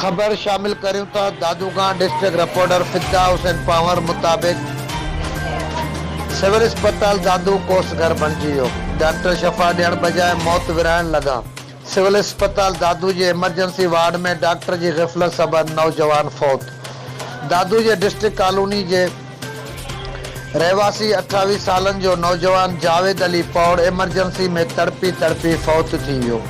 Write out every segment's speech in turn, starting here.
خبر شامل ڪريون ٿا دادوگان ڊسٽرڪٽ رپورٽر فدا حسين پنهور مطابق سول اسپتال دادو ڪوس گهر بڻجي ويو ڊاڪٽر شفا ڏيڻ بجاء موت ورهائڻ لڳا سول اسپتال دادو جي ايمرجنسي وارڊ ۾ ڊاڪٽر جي غفلت سبب نوجوان فوت دادو جي ڊسٽرڪٽ ڪالوني جي رهواسي اٺاويهه سالن جو نوجوان جاويد علي پوڙ ايمرجنسي ۾ تڙپي تڙپي فوت ٿي ويو.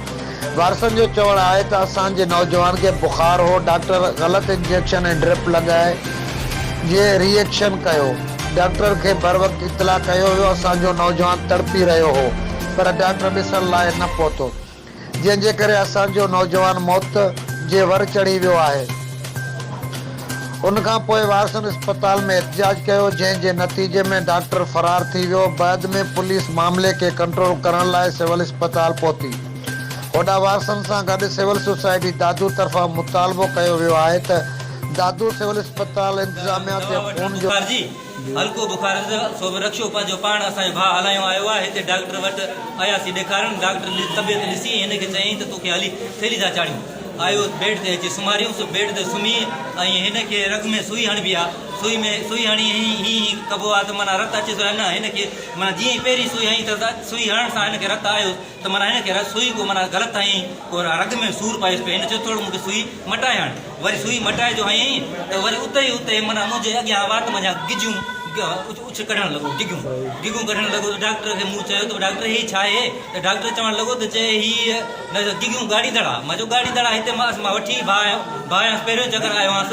وارثن جو چوڻ آهي ته اسان جي نوجوان کي بخار هو، ڊاڪٽر غلط انجيڪشن ۽ ڊرپ لڳائي جي ري ايڪشن ڪيو، ڊاڪٽر کي بروقت اطلاع ڪيو ويو، اسان جو نوجوان تڙپي رهيو هو پر ڊاڪٽر ڏسڻ لاء نه پهتو. جنهن جي ڪري اسان جو نوجوان موت جي ور چڙهي ويو آهي. ان کان پوء وارثن اسپتال ۾ احتجاج ڪيو، جنهن جي نتيجي ۾ ڊاڪٽر فرار ٿي ويو. بعد ۾ پوليس معاملي کي ڪنٽرول ڪرڻ لاء سول اسپتال پهتي. هوڏانهن وارثن سان گڏ سول سوسائٽي دادو طرفان مطالبو ڪيو ويو آهي ته دادو سول اسپتال انتظاميا تي خون جو هلڪو بخار اٿس سو به رڪشو پنهنجو پاڻ اسان جو ڀاء هلايون آيو آهي هتي ڊاڪٽر وٽ اياسين ڏيکارڻ ڊاڪٽر طبيعت ڏسي هن کي چيائين ته توکي هلي ٿيلهي ٿا چاڙهيون آيو بيڊ تي اچي سمهاريون سو بيڊ تي سمهي ۽ هن کي رڳ ۾ سوئي هڻبي آ سوئي ۾ سوئي هڻي هين هين هين ڪبو آ ته معنيٰ رت اچي ٿو يا نه هن کي معنيٰ جيئن ئي پهرين سوئي هنئي ته سوئي هڻڻ سان هن کي رت آيو ته معنيٰ هن کي سوئي ڪو معنيٰ غلط هنئين، ڪو رڳ ۾ سور پيس پئي، هن چيو ٿورڙو مون کي سوئي مٽائي هڻ، وري سوئي مٽائي جو هنئين ته وري اتي ئي اتي معنيٰ منهنجي اڳيان وات منجهان گجيون اڇ ڪڍڻ لڳو، گگون گگون ڪڍڻ لڳو ته ڊاڪٽر کي مون چيو ته ڊاڪٽر هي ڇا اهي؟ ته ڊاڪٽر چوڻ لڳو ته چي هي گگون ڳاڙهي دڙا، مان چيو ڳاڙهي دڙا هتي مان وٺي ڀانئس پهريون چڪر آيو هانس،